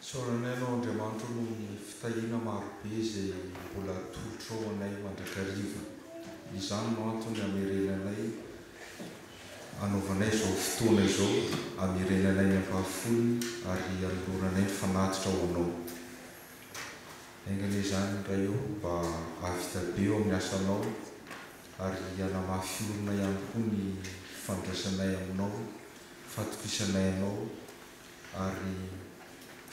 Isaorana Anao Andriamanitro noho ny fitahiana marobe izay mbola atolotrao anay mandrakariva. Izany no antony hamerenanay hanaovanay izao fotoana izao, hamerenanay ny ampahafolony ary hanoloranay ny fanatitra ho Anao. Haingana izany Ray ô, mba hahavita be eo amin'ny asanao ary hanamafy orina ihany koa ny fandraisanay aminao, fatokisanay Anao ary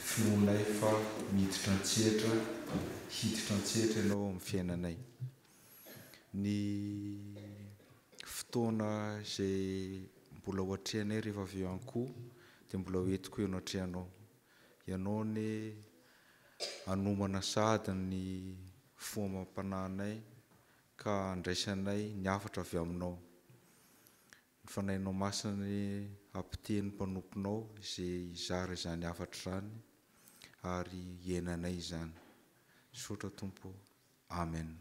finoanay fa miditra an-tsehatra, hiditra an-tsehatra Ianao ao amin'ny fiainanay. Ny fotoana izay mbola ho atrehanay rehefa avy eo an-koho dia mbola ho entiko eo anatrehanao. Ianao anie hanomana sahady ny fo amam-panahinay ka handraisanay ny hafatra avy Aminao. Ny Fanahinao Masina hampiteny ny mpanomponao izay hizara izany hafatra izany ary hiainanay izany. Misaotra Tompo ô. Amen.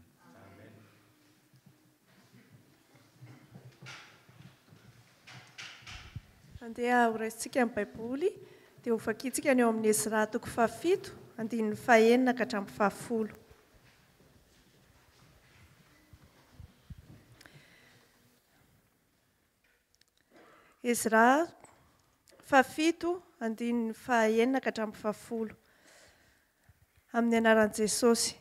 Andeha horaisintsika ny Baiboly dia hovakintsika ny ao amin'ny Ezra toko fahafito, andininy fahenina ka hatramin'ny fahafolo. Ezra fahafito andininy fahaenina ka hatramin'ny fahafolo. Amin'ny anaran'i Jesosy.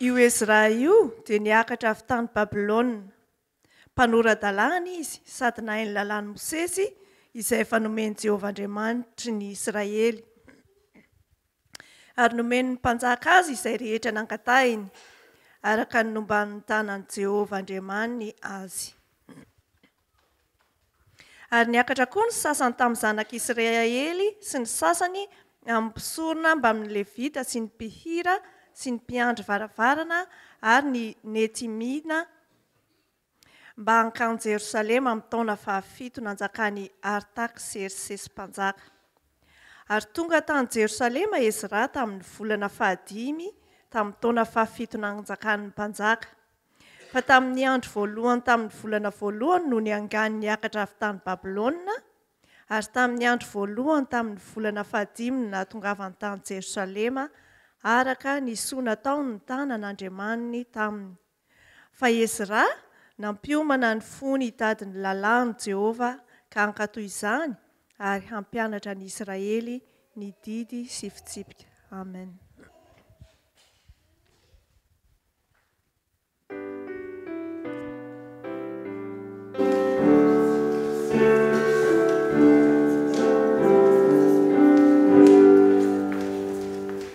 Io Ezra io dia niakatra avy tany Babylona. Mpanora-dalàna izy sady nahay ny Lalàn'i Mosesy izay efa nomen'i Jehovah Andriamanitry ny Israely, ary nomen'ny mpanjaka azy izay rehetra nangatahiny, araka ny nomban'ny tanan'i Jehovah Andriamaniny azy. Ary niakatra koa ny sasany tamin'ny zanak'i Israely sy ny sasany amin'ny mpisorona mbamin'ny Levita sy ny mpihira sy ny mpiandry varavarana ary ny Netimiana mba hankany Jerosalema amin'ny taona fahafito nanjakan'i Artaksersesy Mpanjaka. Ary tonga tany Jerosalema Ezra tamin'ny volana fahadimy tamin'ny taona fahafito nanjakan'ny mpanjaka. Fa tamin'ny andro voalohany tamin'ny volana voalohany no niangany niakatra avy tany Babylona, ary tamin'ny andro voalohany tamin'ny volana fahadimy ny nahatongavany tany Jerosalema, araka ny soa nataon'ny tanan' Andriamaniny taminy. Fa Ezra, nampiomana ny fony hitady ny lalàn'i Jehovah ka hankatò izany ary hampianatra an'i Israely ny didy sy fitsipika. Amen.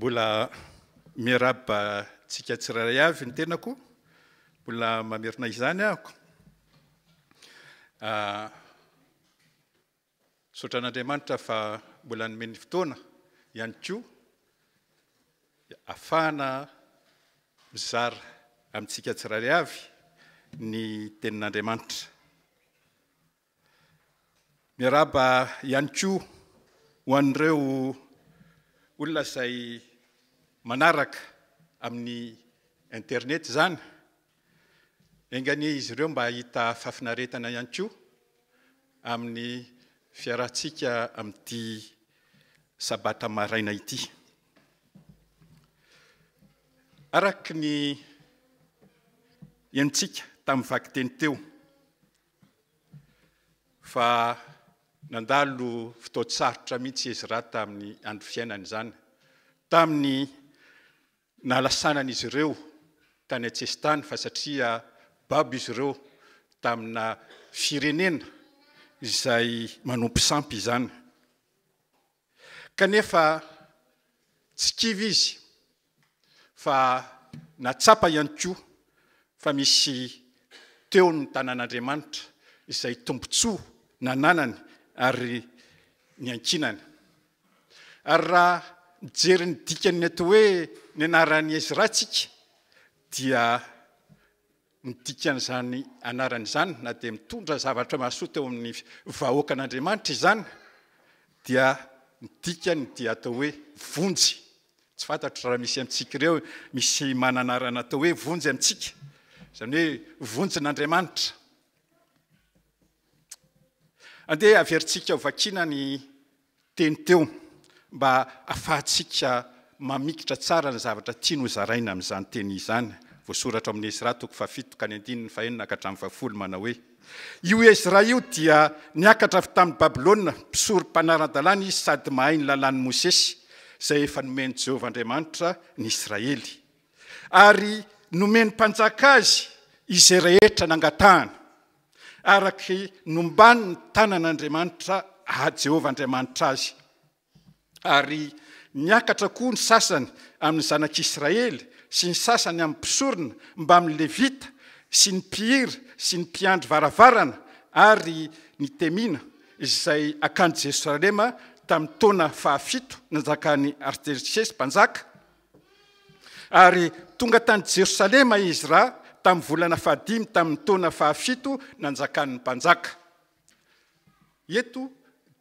Mbola miarahaba antsika tsirairay avy ny tenako, mbola mamerina izany aho. Misaotra an'Andriamanitra fa mbola nomeny fotoana ihany koa afahana mizara amintsika tsirairay avy ny tenin'Andriamanitra. Miarahaba ihany koa ho an'ireo olona izay manaraka amin'ny internet izany Enga anie izy ireo mba hahita fahafinaretana ihany koa amin'ny fiarahantsika amin'ity sabata maraina ity. Araka ny henontsika tamin'ny vakiteny teo fa nandalo fotoan-tsarotra mihitsy Ezra tamin'ny andro fiainany izany, tamin'ny Nalasanan'izy ireo tany an-tsesitany fa satria babo izy ireo tamina firenena izay manompo sampy izany. Kanefa tsy kivy izy fa nahatsapa ihany koa fa misy teo ny tanan'Andriamanitra izay tombontsoa nananany ary niankinany. Ary raha mijery ny dikan'ny atao hoe ny anaran'i Ezra isika dia ny dikan'izany anarana izany na dia mitondra zavatra mahasoa teo amin'ny vahoakan'Andriamanitra izany dia ny dikany dia atao hoe vonjy. Tsy fantatro raha misy amintsika ireo misy mananarana atao hoe vonjy amintsika, izany hoe vonjin'Andriamanitra. Andeha averintsika ho vakiana ny teny teo mba hafahantsika mamikitra tsara ny zavatra tiany ho zaraina amin'izany teny izany. Voasoratra ao amin'ny Esra toko fahafito ka ny andininy fahenina ka hatramin'ny fahafolo manao hoe, Io Esra io dia niakatra avy tamin'i Babylona, mpisory mpanara-dalàna izy sady mahay ny lalàn'i Mosesy, izay efa nomen'i Jehovah Andriamanitra ny Israely. Ary nomen'ny mpanjaka azy izay rehetra nangatahany. araka ny nombany ny tanan'Andriamanitra Jehovah Andriamanitra azy. Ary niakatra koa ny sasany amin'ny zanak'Israely sy ny sasany amin'ny mpisorona mbamin'ny Levita sy ny mpihira sy ny mpiandry varavarana ary ny Temina izay akany Jerosalema tamin'ny taona fahafito nanjakan'i Artersesy mpanjaka, Ary tonga tany Jerosalema i Ezra tamin'ny volana fahadimy tamin'ny taona fahafito nanjakan'ny mpanjaka. Eto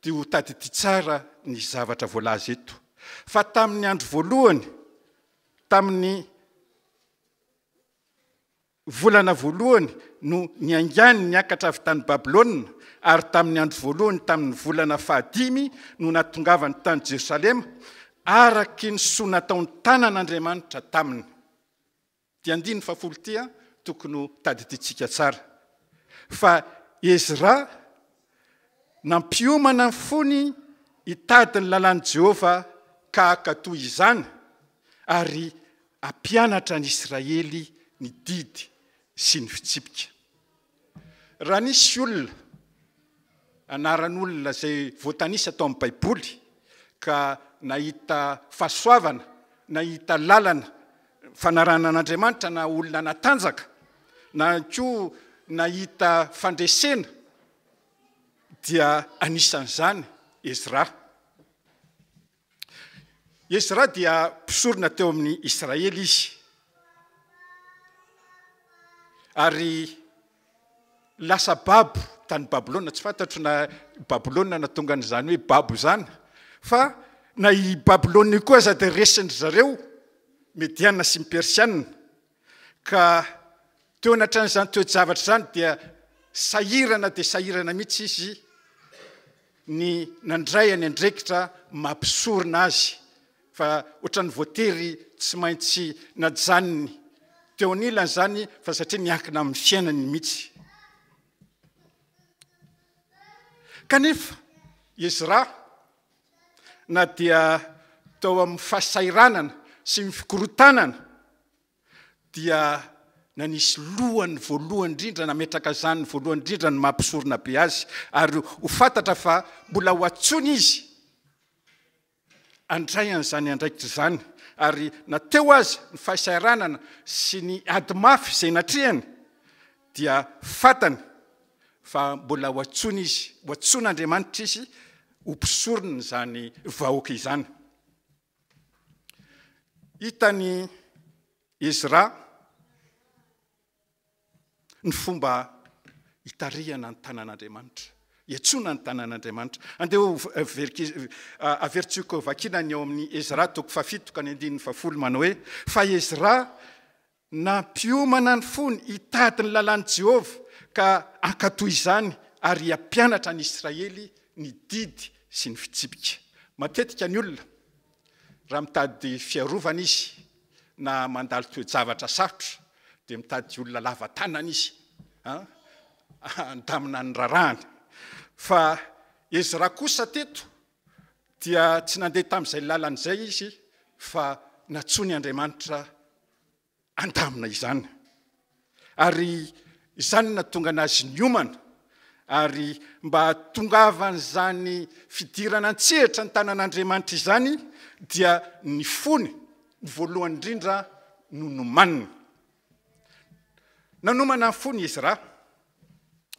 dia ho tadidio tsara ny zavatra voalaza eto. Fa tamin'ny andro voalohany, tamin'ny Volana voalohany no niaingàny niakatra avy tany Babylona, ary tamin'ny andro voalohany tamin'ny volana fahadimy no nahatongavany tany Jerosalema, araky ny soa nataon'ny tànan'Andriamanitra taminy. Ity andininy fahafolo ity tokony ho tadidiantsika tsara fa Ezra Nampiomana ny fony hitady ny lalàn'i Jehovah ka haka toy izany, ary hampianatra ny Israely ny didy sy ny fitsipika. Raha nisy olona, anaran'olona izay voatanisa tao amin'ny Baiboly, ka nahita fahasoavana, nahita lalana fanarahana an'Andriamanitra na olona natanjaka na ihany koa nahita fandresena dia anisan'izany Ezra. Ezra dia mpisorona teo amin'ny Israely izy. Ary lasa babo tany Babylona, tsy fantatro na i Babylona nahatonga an'izany hoe babo izany, fa na i Babylona io koa aza dia resin-dry zareo Mediana sy ny Persiana, ka teo anatrehan'izany toe-javatra izany dia sahirana dia sahirana mihitsy izy ny nandray an'I Andrekitra maha mpisorona azy fa ohatran'ny voatery tsy maintsy najanony teo anilany zany fa satria miankina amin'ny fiainany mihitsy kanefa izy ra na dia tao amin'ny fahasairanana sy ny fikorotanana dia nanisy lohany voalohany indrindra nametraka zany voalohany indrindra ny mampisorona be azy ary ho fantatra fa mbola ho atsony izy handray an'izany andraikitra izany ary na teo aza ny fahasahiranana sy ny ady mafy izay natrehany dia fatany fa mbola ho antsoina izy ho antsoina Andriamanitra izy ho mpisorona izany vahoaka izany hitany Ezra Ny fomba hitarihana ny tanan'Andriamanitra, hiantsoana ny tanan'Andriamanitra. Andeha averintsika vakiana ny ao amin'ny Ezra toko fahafito ka ny andininy fahafolo manao hoe, fa Ezra nampiomana ny fony hitady ny lalàn'i Jehovah ka hankatò izany ary hampianatra an'i Israely ny didy sy ny fitsipika. Matetika ny olona Raha mitady fiarovana izy na mandalo toe-javatra sarotra dia mitady olona lava tanana izy handamina ny rarahany. Fa Ezra kosa teto dia tsy nandeha tamin'izay lalana izay izy fa natsoiny Andriamanitra. handamina izany. Ary izany no nahatonga an'azy niomana, ary mba hahatongavan'izany fidirana an-tsehatra ny tanan'Andriamanitra izany dia ny fony voalohany indrindra no nomaniny. Nanomana ny fony izy raha,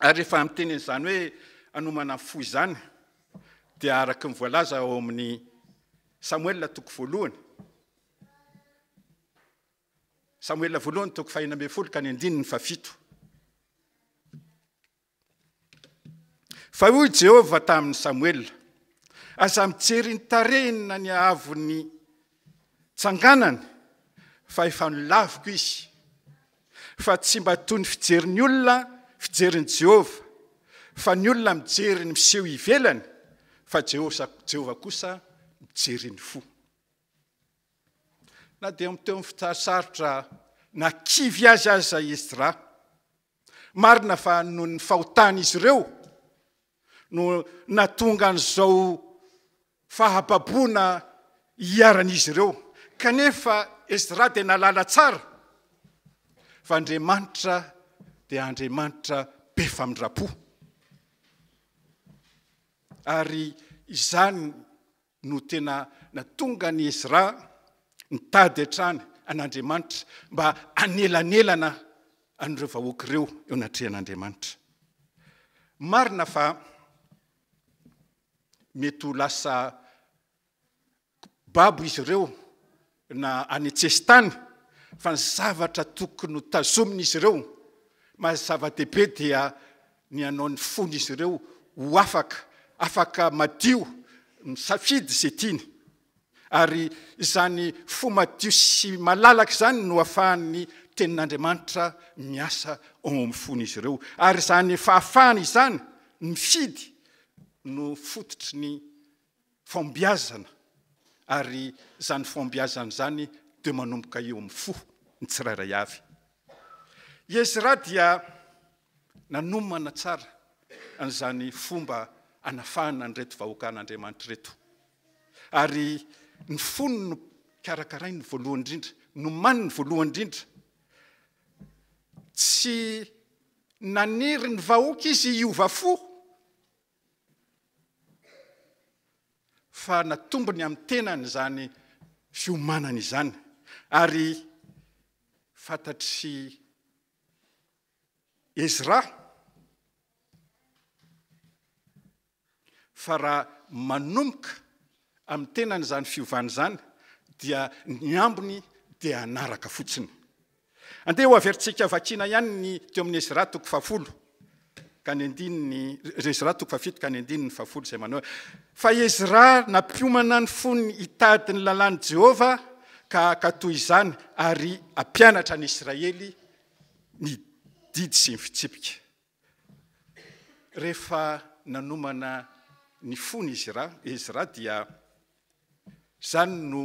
ary rehefa miteny an'izany hoe anomana ny fo izany dia araka ny voalaza ao amin'ny Samoela toko voalohany Samoela voalohany toko fahena ambin'ny folo ka ny andininy fahafito. Fa hoy Jehovah tamin'i Samoela, aza mijery ny tarehiny na ny haavon'ny tsanganany, fa efa nolaviko izy. Fa tsy mba toy ny fijerin'ny olona fijerin'i Jehovah, fa ny olona mijery ny miseho ivelany, fa Jehovah kosa mijery ny fo. Na dia mitohy ny fotoan-tsarotra na kivy azy aza i Esdra, marina fa noho ny fahotan'izy ireo no nahatonga an'izao fahababoana iharan'izy ireo. Kanefa Esdra dia nahalala tsara fa Andriamanitra dia Andriamanitra be famindram-po. Ary izany no tena natonga an'i Ezra nitady hatrany an'Andriamanitra mba hanelanelana an'ireo vahoaka ireo eo anatrehan'Andriamanitra. Marina fa mety ho lasa babo izy ireo na any an-tsesitany fa ny zavatra tokony ho tazomin'izy ireo, maha zava-dehibe dia ny hanao ny fon'izy ireo ho afaka, afaka madio misafidy izay tiany. Ary izany fo madio sy malalaka izany no afahan'ny tenin'Andriamanitra miasa ao amin'ny fon'izy ireo. Ary izany fahafahana izany mifidy no fototry ny Fahombiazana, ary izany fahombiazana izany dia manomboka eo amin'ny fo, ny tsirairay avy. I Ezra dia nanomana tsara an'izany fomba hanafahana an'ireto vahoakan'Andriamanitra ireto, ary ny fony no karakarainy voalohany indrindra, nomaniny voalohany indrindra. Tsy naniry ny vahoaka izy hiova fo, fa natombony amin'ny tenany izany fiomanana izany ary fantatr'i Ezra fa raha manomboka amin'ny tenany izany fiovana izany dia ny ambiny dia hanaraka fotsiny. Andeha ho averintsika vakiana ihany ny teo amin'ny Ezra toko fahafolo ka ny andininy, Ezra toko fahafito ka ny andininy fahafolo izay manao fa Ezra nampiomana ny fony hitady ny lalàn'i Jehovah ka haka toy izany ary hampianatra ny Israely ny didy sy ny fitsipika. Rehefa nanomana ny fony izy Ra, izy Ra dia izany no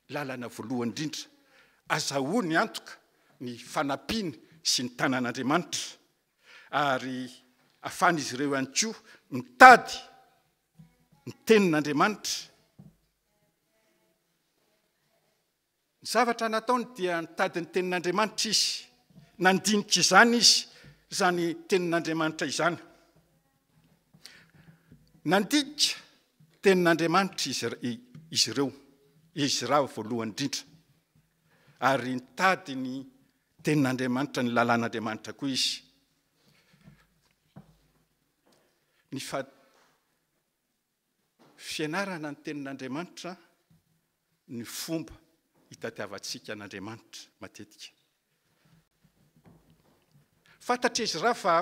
lalana voalohany indrindra. Azahoany antoka ny fanampiany sy ny tanan'Andriamanitra ary ahafahan'izy ireo ihany koa mitady ny tenin'Andriamanitra Ny zavatra nataony dia nitady ny Tenin'Andriamanitra izy, nandinika izany izy, izany Tenin'Andriamanitra izany. Nandinika Tenin'Andriamanitra izy, izy ireo, Ezra voalohany indrindra. Ary nitady ny Tenin'Andriamanitra, ny lalàn'Andriamanitra koa izy. Ny fa... Fianarana ny Tenin'Andriamanitra ny fomba hitadiavantsika an'Andriamanitra matetika. Fantatr'izy raha fa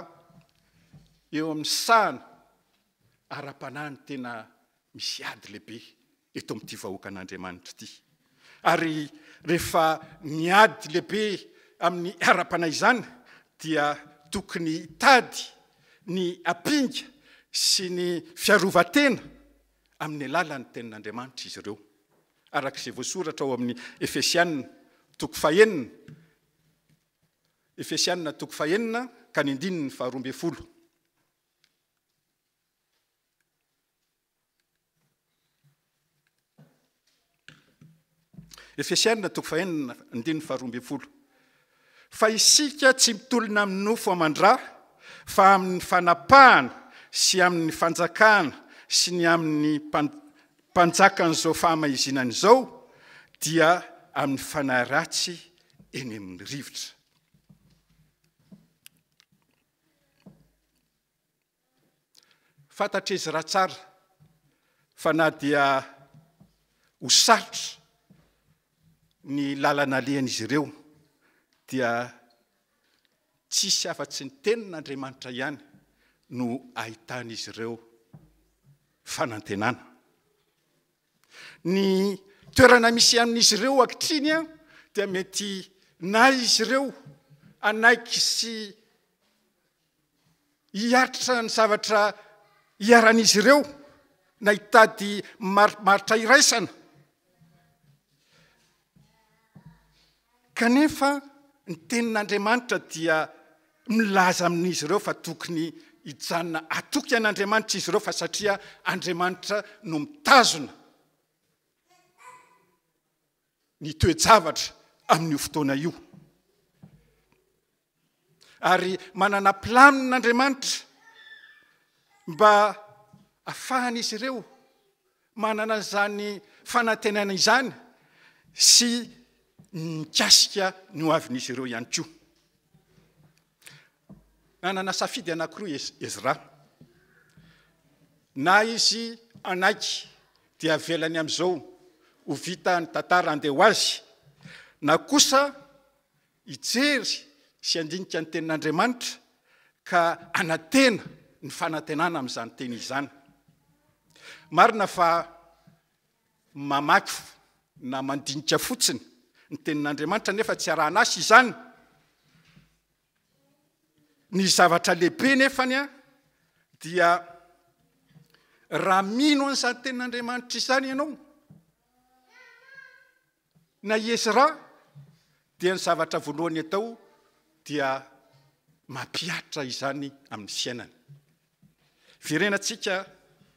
eo amin'ny sahana ara-panahy ny tena misy ady lehibe eto amin'ity vahoakan'Andriamanitra ity. Ary rehefa miady lehibe amin'ny ara-panahy izany dia tokony hitady ny hampinga sy ny fiarovan-tena amin'ny alalan'ny Tenin'Andriamanitra izy ireo. Araka izay voasoratra ao amin'ny Efesianina toko fahenina, Efesianina toko fahenina ka ny andininy faharoa ambin'ny folo. Efesiana toko fahenina andininy faharoa ambin'ny folo. Fa isika tsy mitolona amin'ny nofo aman-dra, fa amin'ny fanapahana sy amin'ny fanjakana sy ny amin'ny mpanjakan'izao fahamaizinana izao, dia amin'ny fanahy ratsy eny amin'ny rivotra. Fantatr'izy raha tsara fa na dia ho sarotra ny lalana alehan'izy ireo dia tsisy afa-tsy ny tenin'Andriamanitra ihany no ahitan'izy ireo fanantenana. Ny toerana misy amin'izy ireo ankitriny dia mety na izy ireo hanaiky sy hiaritra ny zavatra iharan'izy ireo na hitady marimaritra iraisana. Kanefa ny tenin'Andriamanitra dia milaza amin'izy ireo fa tokony hijanona atoky an'Andriamanitra izy ireo fa satria Andriamanitra no mitazona. ny toe-javatra amin'io fotoana io. Ary manana planina Andriamanitra mba afahan'izy ireo manana izany fanantenana izany sy mikasika ny hoavin'izy ireo ihany koa. Nanana safidy anankiroa i Ezra. Na izy hanaiky dia avelany amin'izao ho vita ny tantara handeha ho azy, na kosa hijery sy handinika ny Tenin'Andriamanitra ka hanantena ny fanantenana amin'izany teny izany. Marina fa. Mamaky na mandinika fotsiny ny Tenin'Andriamanitra nefa tsy arahan'asa izany. Ny zavatra lehibe nefany dia raha mino an'izany Tenin'Andriamanitra izany ianao, Na i Ezra dia ny zavatra voalohany atao dia mampihatra izany amin'ny fiainany. Verenantsika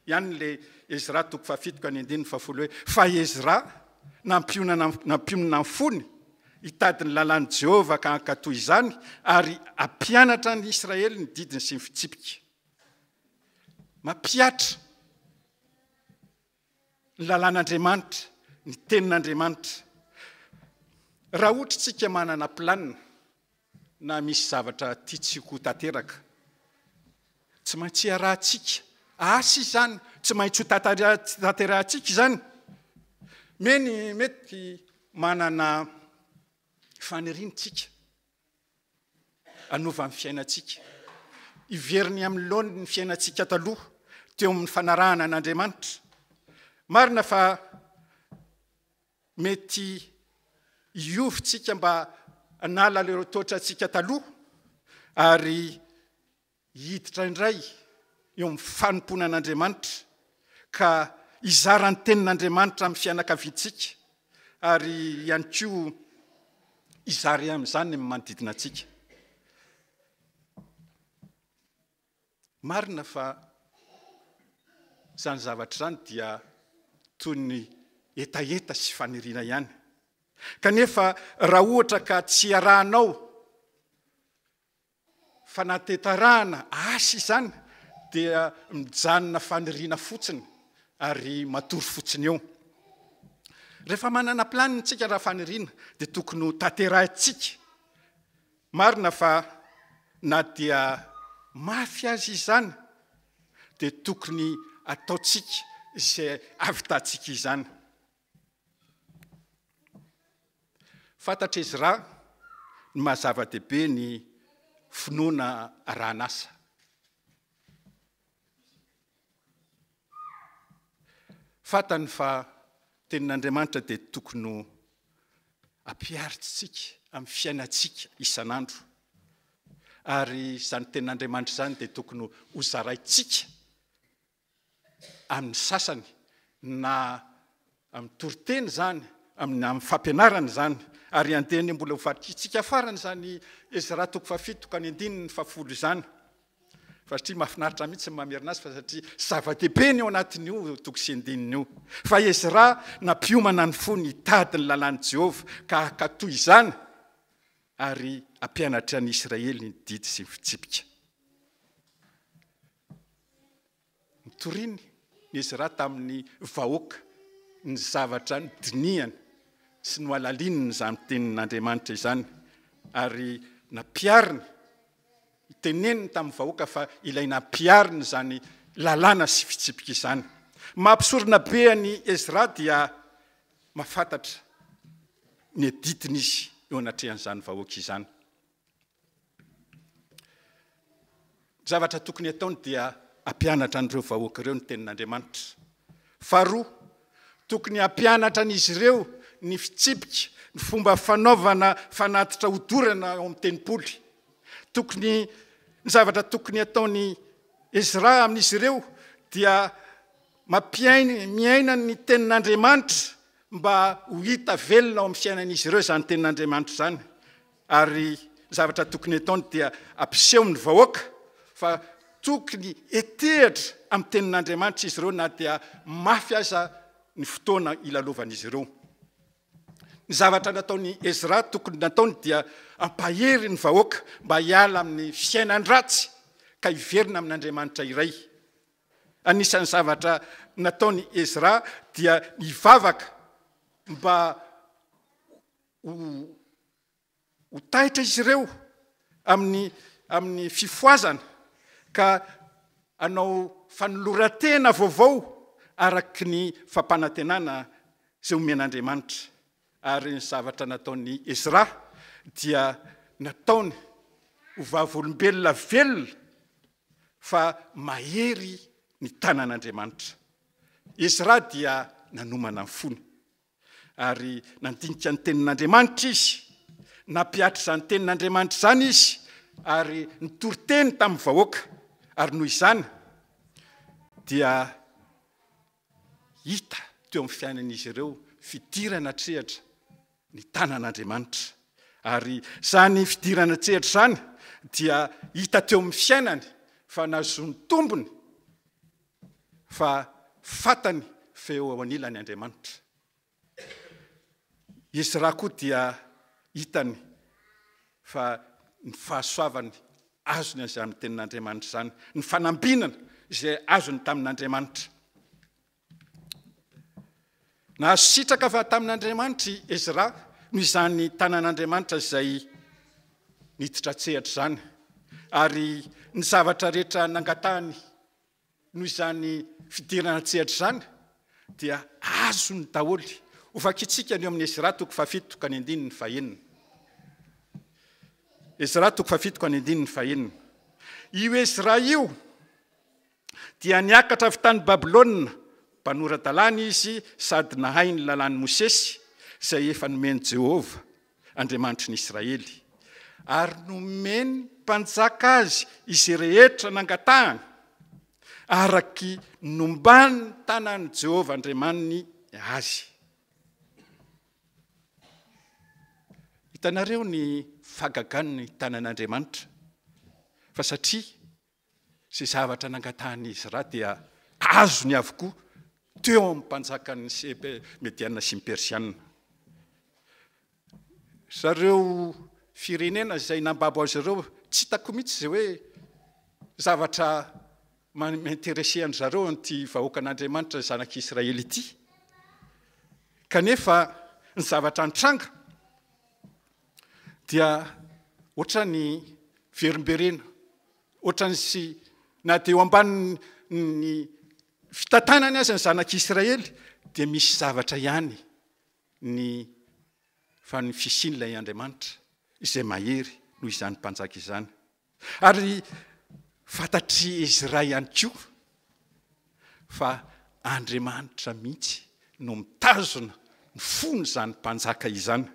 ihany ilay Ezra toko fahafito ka ny andininy fahafolo hoe fa Ezra nampionana nampionona ny fony hitady ny lalàn'i Jehovah ka hankatò izany ary hampianatra ny Israely ny didiny sy ny fitsipika. Mampihatra ny lalàn'Andriamanitra, ny tenin'Andriamanitra. Raha ohatra isika manana planina na misy zavatra tiantsika ho tanteraka, tsy maintsy iarahantsika asa izany, tsy maintsy ho tanterahantsika izany. Mety manana faniriana isika. hanova ny fiainantsika, hivery ny amin'ny laoniny ny fiainantsika taloha teo amin'ny fanarahana an'Andriamanitra. Marina fa mety hiovintsika mba hanala ireo toetrantsika taloha ary Hiditra indray eo amin'ny fanompoana an'Andriamanitra ka hizara ny tenin'Andriamanitra amin'ny fianakaviantsika ary ihany koa hizara amin'izany amin'ny manodidina antsika. Marina fa izany zavatra izany dia toy ny hetaheta sy faniriana ihany. Kanefa raha ohatra ka tsy arahanao fanatetarahana asa izany dia mijanona faniriana fotsiny ary matory fotsiny eo. Rehefa manana planina tsika raha faniriana dia tokony ho tanterahintsika. Marina fa na dia mafy azy izany dia tokony ataontsika izay avitantsika izany. Fantatr'i Ezra ny maha zava-dehibe ny finoana arahan'asa. Fantany fa tenin'Andriamanitra dia tokony ho ampiharitsika amin'ny fiainantsika isan'andro. Ary izany tenin'Andriamanitra izany dia tokony ho zaraintsika amin'ny sasany na amin'ny toriteny izany, amin'ny fampianarana izany, ary andeha ny mbola ho vakintsika farany izany Ezra toko fahafito ka ny andininy fahafolo izany, fa satria mahafinaritra ahy mihitsy ny mamerina azy fa satria zava-dehibe ny ao anatin'io toko sy andininy io. Fa Ezra nampiomana ny fony hitady ny lalàn'i Jehovah ka hankatò izany ary hampianatra ny Israely ny didy sy ny fitsipika. Notoriny ny Ezra tamin'ny vahoaka ny zavatra nodinihany sy nohalalininy izany Tenin'Andriamanitra izany, ary nampihariny, teneniny tamin'ny vahoaka fa ilay nampihariny izany lalàna sy fitsipika izany. Maha-mpisorona be an'i Ezra dia mahafantatra ny adidiny izy eo anatrehan'izany vahoaka izany. Ny zavatra tokony hataony dia hampianatra an'ireo vahoaka ireo ny tenin'Andriamanitra. Faharoa, tokony hampianatra an'izy ireo ny fitsipika, ny fomba fanaovana fanatitra hodorana ao amin'ny tempoly. Tokony ny zavatra tokony hataony Ezra amin'izy ireo dia mampiaina miaina ny tenin'Andriamanitra mba ho hita velona ao amin'ny fiainan'izy ireo izany tenin'Andriamanitra izany. Ary zavatra tokony ataony dia ampiseho ny vahoaka fa tokony hetehitra amin'ny tenin'Andriamanitra izy ireo na dia mafy aza ny fotoana ilalovan'izy ireo. Ny zavatra nataon'i Ezra tokony nataony dia ampahery ny vahoaka mba hiala amin'ny fiainan-dratsy ka hiverina amin'Andriamanitra iray. Anisan'ny zavatra nataon'i Ezra dia nivavaka mba Ho ho taitra izy ireo amin'ny amin'ny fifohazana ka hanao fanoloran-tena vaovao araka ny fampanantenana izay omen'Andriamanitra. Ary ny zavatra nataon'i Ezra dia nataony ho vavolombelona velona fa mahery ny tanan'Andriamanitra. Ezra dia nanomana ny fony. Ary nandinika ny Tenin'Andriamanitra izy, nampihatra izany Tenin'Andriamanitra izany izy, ary nitory teny tamin'ny vahoaka. Ary noho izany dia hita teo amin'ny fiainan'izy ireo fidirana an-tsehatra ny tanan'Andriamanitra. Ary izany fidirana an-tsehatra izany dia hita teo amin'ny fiainany fa nahazoany tombony Fa fantany fa eo anilany Andriamanitra. Ezra koa dia hitany fa ny fahasoavany azony avy amin'ny tenin'Andriamanitra izany, ny fanambinana izay azony tamin'Andriamanitra. Nahasitraka avy tamin'Andriamanitra i Ezra noho izany tanan'Andriamanitra izay niditra an-tsehatra izany, ary ny zavatra rehetra nangatahany noho izany fidirana an-tsehatra izany dia azony daholo. Hovakintsika ny eo amin'ny Ezra toko fahafito ka ny andininy fahenina. Ezra toko fahafito ka ny andininy fahenina. Io Ezra io dia niakatra avy tany Babylona, mpanora-dalàna izy sady nahay ny lalàn'i Mosesy izay efa nomen'i Jehovah Andriamanitry ny Israely, ary nomeny mpanjaka azy izay rehetra nangatahany, araka ny nomban'ny tanan'i Jehovah Andriamaniny azy. Hitanareo ny fahagagan'ny tanan'Andriamanitra, fa satria Izay zavatra nangatahan'izy ra dia azony avokoa teo amin'ny mpanjakan'ny Sebe, Mediana sy ny Persiana. Zareo firenena izay nambabo azy ireo tsy hitako mihitsy izay hoe zavatra mi-interesser an-dry zareo an'ity vahoakan'Andriamanitra zanak'Israely ity. Kanefa ny zavatra nitranga dia ohatran'ny verimberena, ohatran'ny sy na dia eo ambanin'ny fitantanany aza ny zanak'Israely dia misy zavatra ihany ny fa ny fisian'ilay Andriamanitra izay mahery noho izany mpanjaka izany. Ary fantatr'i Ezra ihany koa fa Andriamanitra mihitsy no mitazona ny fon'izany mpanjaka izany.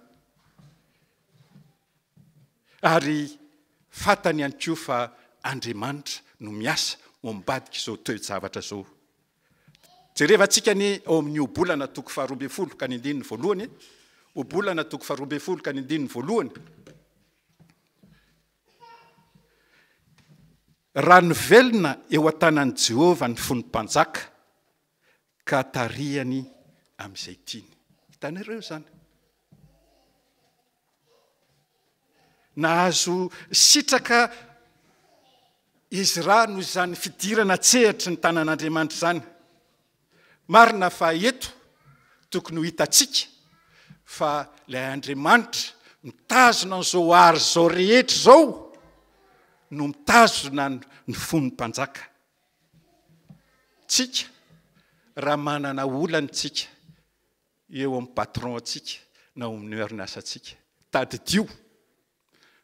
Ary fantany ihany koa fa Andriamanitra no miasa ao ambadik'izao toe-javatra izao. Jerevantsika ny ao amin'ny ohabolana toko faharoa ambin'ny folo ka ny andininy voalohany. Ohabolana toko faharoa ambin'ny folo ka ny andininy voalohany. Raha nivelona eo an-tanan'i Jehovah ny fon'ny mpanjaka, ka tarihany amin'izay tiany. Hitanareo izany? Nahazo sitraka izy ra noho izany fidirana an-tsehatry ny tanan'Andriamanitra izany. Marina fa eto tokony ho hitantsika fa ilay Andriamanitra mitazona an'izao art izao rehetra izao no mitazona ny fon'ny mpanjaka. Tsika raha manana olana tsika eo amin'ny patron antsika na omin'ny orinasa antsika, tadidio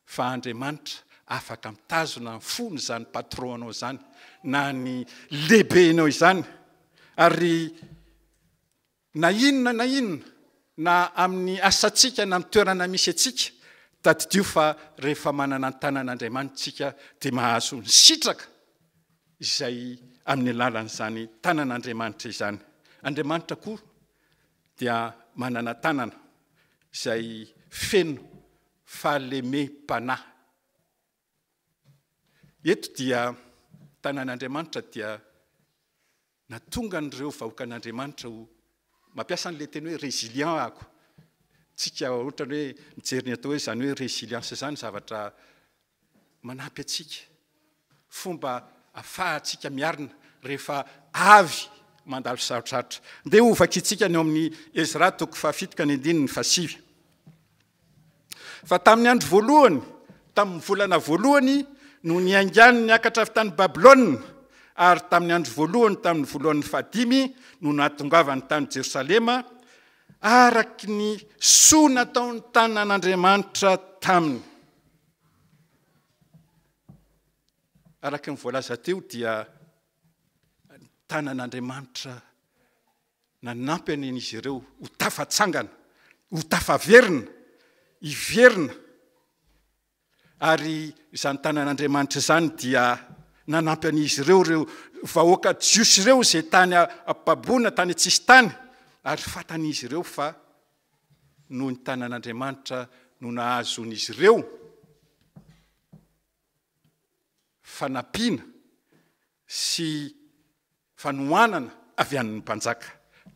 fa Andriamanitra afaka mitazona ny fon' izany patron anao izany na ny lehibenao izany ary na inona na inona na amin'ny asantsika na amin'ny toerana misy antsika tadidio fa rehefa manana ny tanan' Andriamanitra tsika dia mahazo ny sitraka izay amin'ny alalan'izany tanan' Andriamanitra izany Andriamanitra koa dia manana tanana izay feno fahalemem-panahy. Eto dia tanan'Andriamanitra dia na tonga an'ireo vahoakan'Andriamanitra ho mampiasa an'ilay teny hoe resilient ako, tsika ohatrany hoe mijery ny atao hoe izany hoe resilience izany zavatra manampy antsika, fomba afahantsika miarina rehefa avy mandalo sarotrarotra. Ndeha ho vakintsika ny ao amin'ny Ezra toko fahafito ka ny andininy fahasivy. Fa tamin'ny andro voalohany, tamin'ny volana voalohany no niaingany niakatra avy tany Babylona, ary tamin'ny andro voalohany tamin'ny voalohany fahadimy no nahatongavany tany Jerosalema, araka ny soa nataony tanan'Andriamanitra taminy. Araka ny voalaza teo dia ny tanan'Andriamanitra nanampy an'izy ireo ho tafatsangana, ho tafaverina, hiverina. Ary izany tanan'Andriamanitra izany dia nanampy an'izy ireo ireo vahoaka jiosy ireo izay tany am-paboana, tany an-tsisintany, ary fatan'izy ireo fa noho ny tanan'Andriamanitra no nahazoan'izy ireo fanampiana sy fanohanana avy an'ny mpanjaka.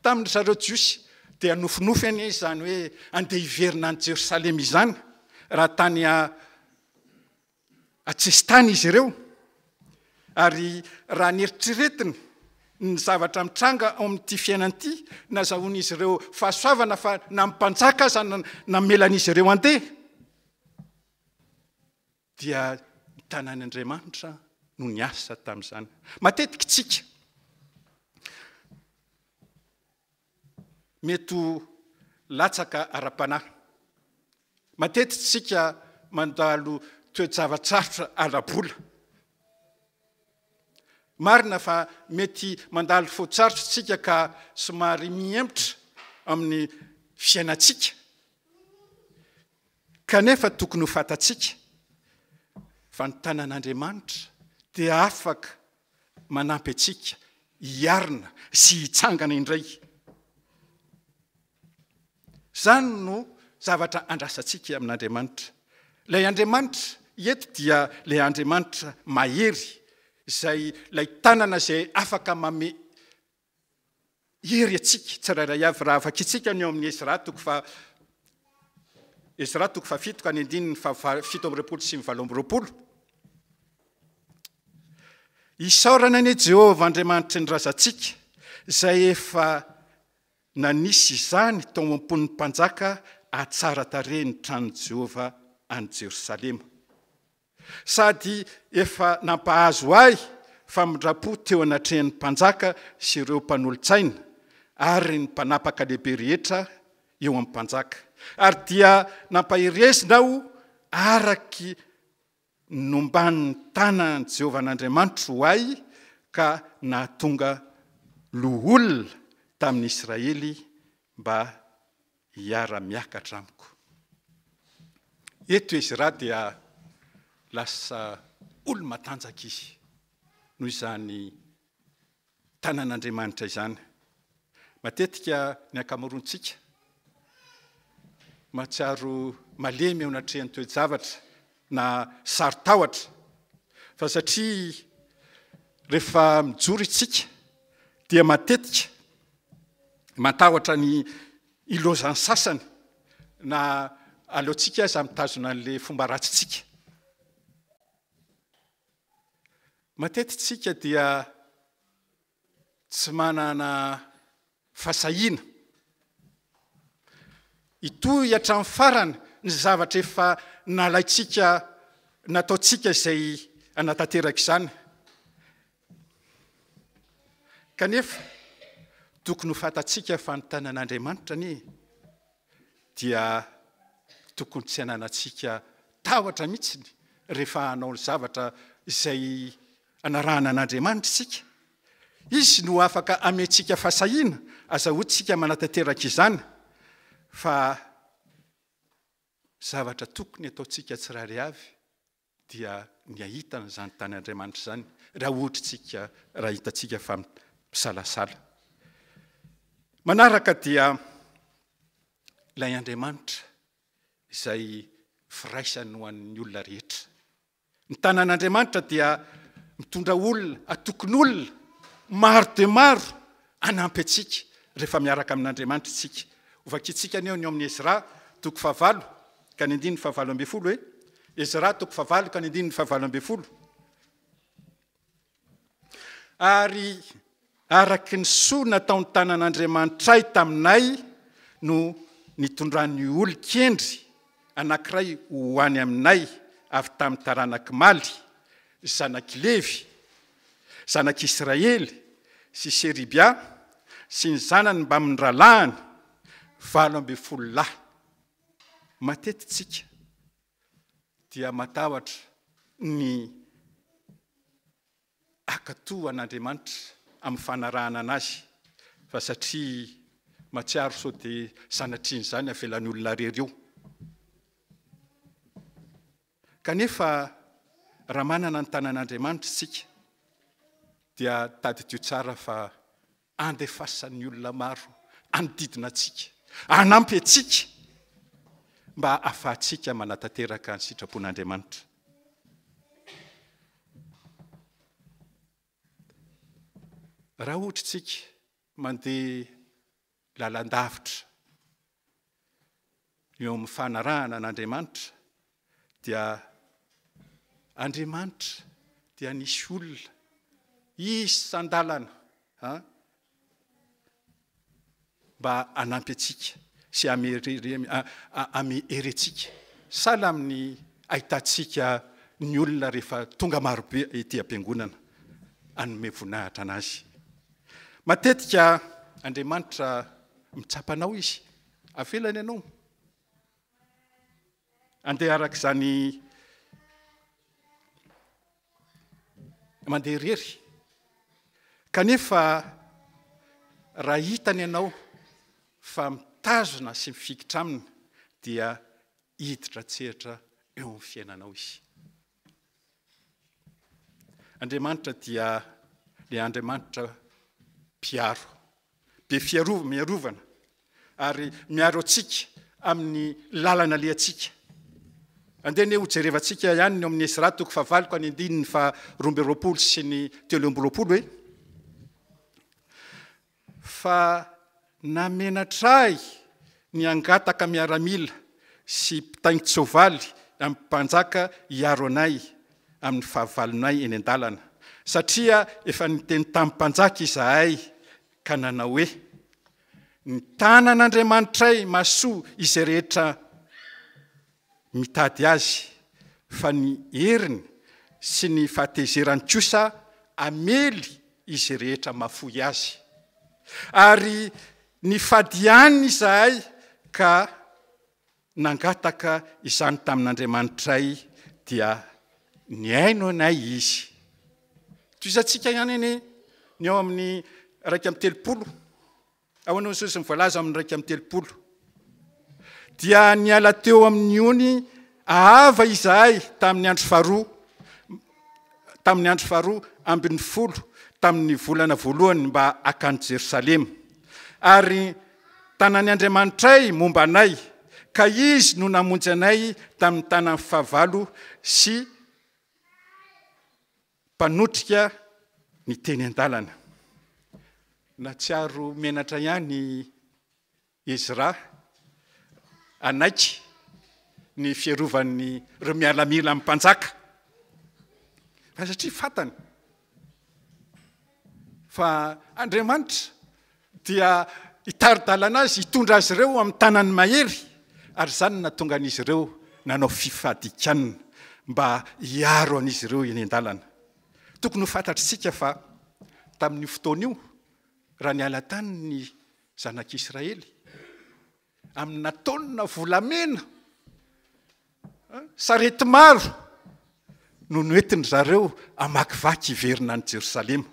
Tamin' zareo Jiosy dia nofinofy anie izany hoe andeha hiverina any Jerosalema izany raha tany an-tsesitany izy ireo ary raha ny eritreretiny ny zavatra mitranga ao amin'ity fiainana ity, nazahoan'izy ireo fahasoavana fa na mpanjaka aza namelan'izy ireo andeha, dia ny tanan'Andriamanitra no niasa tamin'izany. Matetika isika mety ho latsaka ara-panahy. Matetika isika mandalo toe-java-tsarotra ara-bola. Marina fa mety mandalo fotosarotra isika ka somary mihemotra amin'ny fiainantsika. Kanefa tokony ho fantatsika fa ny tanan'Andriamanitra dia afaka manampy antsika hiarina sy hitsangana indray. Izany no zavatra andrasantsika amin'Andriamanitra. Ilay Andriamanitra eto dia ilay Andriamanitra mahery, izay ilay tanana izay afaka mame Hery antsika tsirairay avy raha vakintsika ny ao amin'ny Ezra toko fa Ezra toko fahafito ka ny andininy fa fito amby roapolo sy ny valo amby roapolo. Isaorana ny Jehovah Andriamanitry ny razantsika izay efa nanisy izany tao am-pon'ny mpanjaka hatsara tarehy ny tranon'i Jehovah any Jerosalema. sady efa nampahazo ahy famindram-po teo anatrehan'ny mpanjaka sy ireo mpanolotsaina ary ny mpanapaka lehibe rehetra eo amin'ny mpanjaka, ary dia nampaherezina aho araky ny nomban'ny tanan'i Jehovah an'Andriamanitro ho ahy, ka nahatonga loholona tamin'ny Israely mba hiara-miakatra amiko. Eto Ezra dia lasa olo-matanjaka izy noho izany tanan'Andriamanitra izany. Matetika ny ankamaroantsika mahatsiaro malemy eo anatrehan'ny toe-javatra na saro-tahotra fa satria rehefa mijoro isika dia matetika Matahotra ny hilozan'ny sasany na aleontsika aza mitazona an'ilay fomba ratsintsika. Matetika isika dia tsy manana fasahiana hitohy hatramin'ny farany ny zavatra efa nalaintsika nataontsika izay hanatanteraka izany Kanefa, tokony ho fantatsika fa ny tanan'Andriamanitra anie dia tokony tsy hananantsika tahotra mihitsy rehefa hanao ny zavatra izay anarahana an'Andriamanitra isika. Izy no afaka amentsika fahasahiana, aza hotsika manatanteraka izany fa zavatra tokony ataontsika tsirairay avy dia ny hahita an'izany tany Andriamanitra izany raha ohatritsika raha hitantsika fa misalasala. Manaraka dia ilay Andriamanitra izay firaisany ho an'ny olona rehetra. Ny tanan'Andriamanitra dia mitondra olona, atokon'olona, maro dia maro anampy antsika rehefa miaraka amin'Andriamanitra isika. Hovakintsika aneo ny ao amin'ny Ezra, toko fahavalo, ka ny andininy fahavalo ambin'ny folo hoe, Ezra toko fahavalo ka ny andininy fahavalo ambin'ny folo. Ary araka ny soa nataony tanan'Andriamanitray taminay no nitondrany olon-kendry anankiray ho any aminay avy tamin'ny taranak'i Maly, zanak'i Levy, zanak'i Israely sy Seribia sy ny zanany mbamin'ny rahalahiny valo ambin'ny folo lahy. Matety tsika dia matahotra ny akato an'Andriamanitra amin'ny fanarahana anazy fa satria matsiaro sao dia sanatrian'izany avelan'olona rery eo. Kanefa raha manana ny tanan'Andriamanitra isika dia tadidio tsara fa andefasan'ny olona maro hanodidina antsika, hanampy antsika mba hahafahantsika manatanteraka ny sitrapon'Andriamanitra. Raha ohatra isika Mandeha lalandavitra eo amin'ny fanarahana an'Andriamanitra dia Andriamanitra dia nisy olona isan-dalana mba hanampy antsika sy hamerentsika sahala amin'ny ahitantsika ny olona rehefa tonga marobe ety am-piangonana hanome voninahitra an'azy. Matetika Andriamanitra mitsapa anao izy, avelany ianao andeha araka izany mandeha irery. Kanefa raha hitany ianao fa mitazona sy mifikitra aminy dia hiditra an-tsehatra eo amin'ny fiainanao izy. Andriamanitra dia le Andriamanitra mpiaro, be fiarova, miarovana, ary miaro antsika amin'ny lalana lehantsika. Andeha ne ho jerevantsika ihany ny amin'ny Esra toko fahavalo ka ny andininy fa roamby roapolo sy ny telo amby roapolo hoe fa namenatra ahy ny hangataka miaramila sy mpitaingin-tsoavaly amin'ny mpanjaka hiaro anay amin'ny fahavalonay eny an-dalana, satria efa niteny tamin'ny mpanjaka izahay ka nanao hoe, Ny tanan'Andriamanitray mahasoa izay rehetra mitady azy fa ny heriny sy ny fahatezerany kosa hamely izy rehetra mahafoy azy. Ary nifadiany izahay ka nangataka izany tamin'Andriamanitray dia nihaino anay Izy. Toizantsika ihany anie ny ao amin'ny iraika amby telopolo. Ahoana ny sosony voalaza ao amin'ny iraika amby telopolo? Dia niala teo amin'ny ony ahava izahay tamin'ny andro faharoa, tamin'ny andro faharoa ambin'ny folo tamin'ny volana voalohany mba akany Jerosalema. Ary tanan'ny Andriamanitray momba anay, ka izy no namonjy anay tamin'ny tanan'ny fahavalo sy Mpanotrika ny teny an-dalana. Nahatsiaro menatra ihany i Ezra hanaiky ny fierovan'ireo miaramila amin'ny mpanjaka, fa satria fantany fa Andriamanitra dia hitari-dalana azy hitondra azy ireo amin'ny tanan'ny mahery, ary izany no nahatonga an'izy ireo nanao fifadikanana mba hiaro an'izy ireo eny an-dalana. Tokony ho fantatr'isika fa tamin'io fotoana io, raha niala tany ny zanak'Israely, Amina taonina volamena, sarety maro no noentin-dry zareo hamakivaky hiverina any Jerosalema.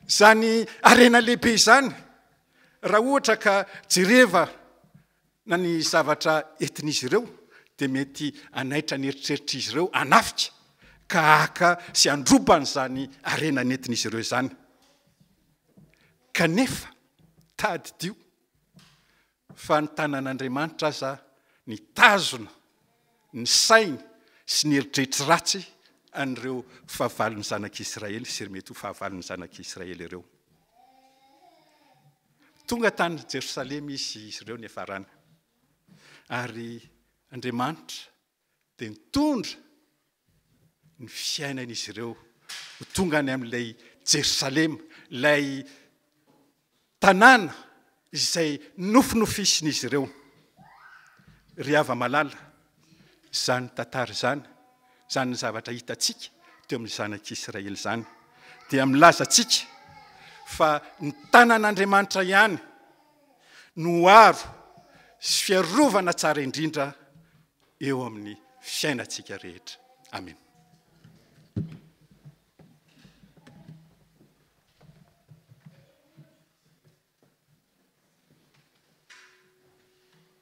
Izany harena lehibe izany, raha ohatra ka jereva na ny zavatra entin'izy ireo, dia mety hanaitra ny eritreritr'izy ireo hanafika ka haka sy handroba an'izany harena nentin'izy ireo izany. Kanefa, tadidio fa ny tanan'Andriamanitra aza nitazona ny sainy sy ny eritreritry ratsy an'ireo fahavalon'ny zanak'Israely sy mety ho fahavalon'ny zanak'Israely ireo. Tonga tany Jerosalema izy sy izy ireo niafarana. Ary Andriamanitra dia nitondra ny fiainan'izy ireo ho tonga any amin'ilay Jerosalema, ilay tanàna izay nofinofisin'izy ireo. Ry hava-malala, izany tantara izany, izany zavatra hitantsika teo amin'ny zanak'Israely izany dia milaza antsika fa ny tanan'Andriamanitra ihany, no aro sy fiarovana tsara indrindra eo amin'ny fiainantsika rehetra. Amena.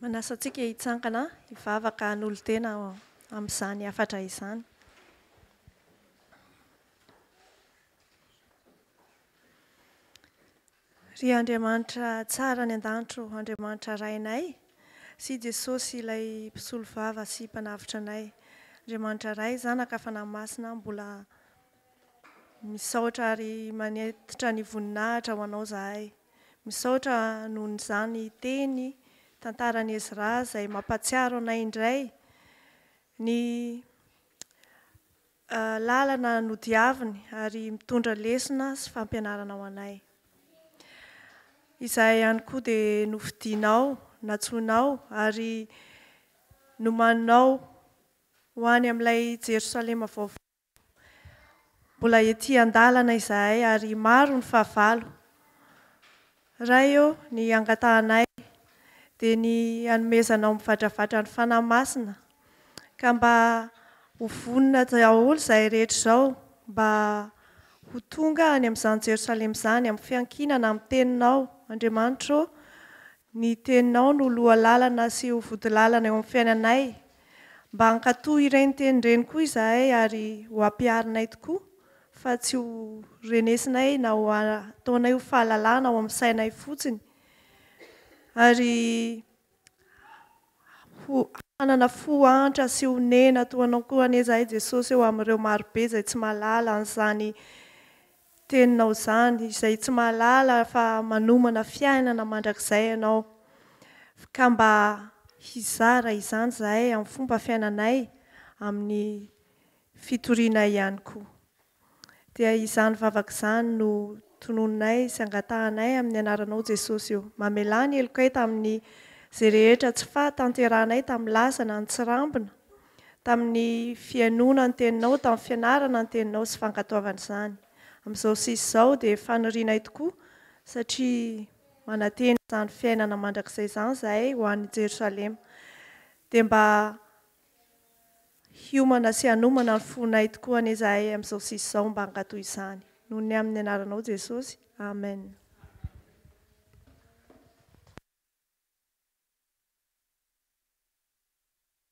Manasa antsika hitsangana hivavaka hanolo-tena amin'izany hafatra izany. Ry Andriamanitra tsara any an-danitro, Andriamanitra Rainay, sy Jesosy ilay mpisolovava sy mpanavotra anay. Andriamanitra Ray, Zanaka, Fanahy Masina, mbola misaotra ary manetitra ny voninahitra ho Anao zahay. Misaotra noho ny zany teny tantaran'i Ezra izay mampatsiaro anay indray ny Lalana nodiaviny ary mitondra lesona sy fampianarana ho anay. Izahay ihany koa dia nofidinao, natsoinao ary nomaninao ho any amin'ilay Jerosalema vaovao. Mbola ety an-dalana izahay ary maro ny fahavalo. Ray ô, ny hangatahanay dia ny hanomezanao mivadravadra ny Fanahy Masina, ka mba ho vonona daholo izay rehetra izao mba ho tonga any amin'izany Jerosalema izany, amin'ny fiankinana amin'ny Teninao, Andriamanitra ô, ny Teninao no loha lalana sy ho vodilalana eo amin'ny fiainanay, Mba hankatoa ireny teny ireny koa izahay ary ho ampiharinay tokoa fa tsy ho renesinay na ho ataonay ho fahalalana ao amin'ny sainay fotsiny ary ho hanana fo antra sy honena toa anao koa anie izahay Jesosy ô amin'ireo marobe izay tsy mahalala an'izany teninao izany, izay tsy mahalala fa manomana fiainana mandrakizay ianao, ka mba hizara izany izahay amin'ny fomba fiainanay, amin'ny fitorianay ihany koa. Dia izany vavaka izany no tononinay sy angatahanay amin'ny anaranao Jesosy ô. Mamelà ny helokay tamin'ny izay rehetra tsy fahatanterahanay tamin'ny lasa na ny tsirambina, tamin'ny fihainoana ny Teninao, tamin'ny fianarana ny Teninao sy fankatoavana izany. Amin'izao sisa izao dia fanirianay tokoa satria manantena izany fiainana mandrakizay izany izahay ho any Jerosalema. Dia mba hiomana sy hanomana ny fonay tokoa anie izahay amin'izao sisa izao mba hankatò izany. Noho ny amin'ny Anaranao Jesosy. Amen.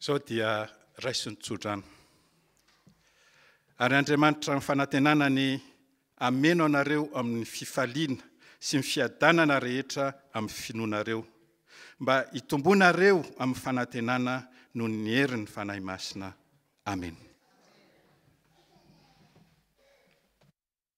Izao dia raiso ny tsodrano. Ary Andriamanitra ny fanantenana ny ameno anareo amin'ny fifaliana sy ny fiadanana rehetra amin'ny finoanareo, mba hitomboanareo amin'ny fanantenana noho ny herin'ny Fanahy Masina. Amen.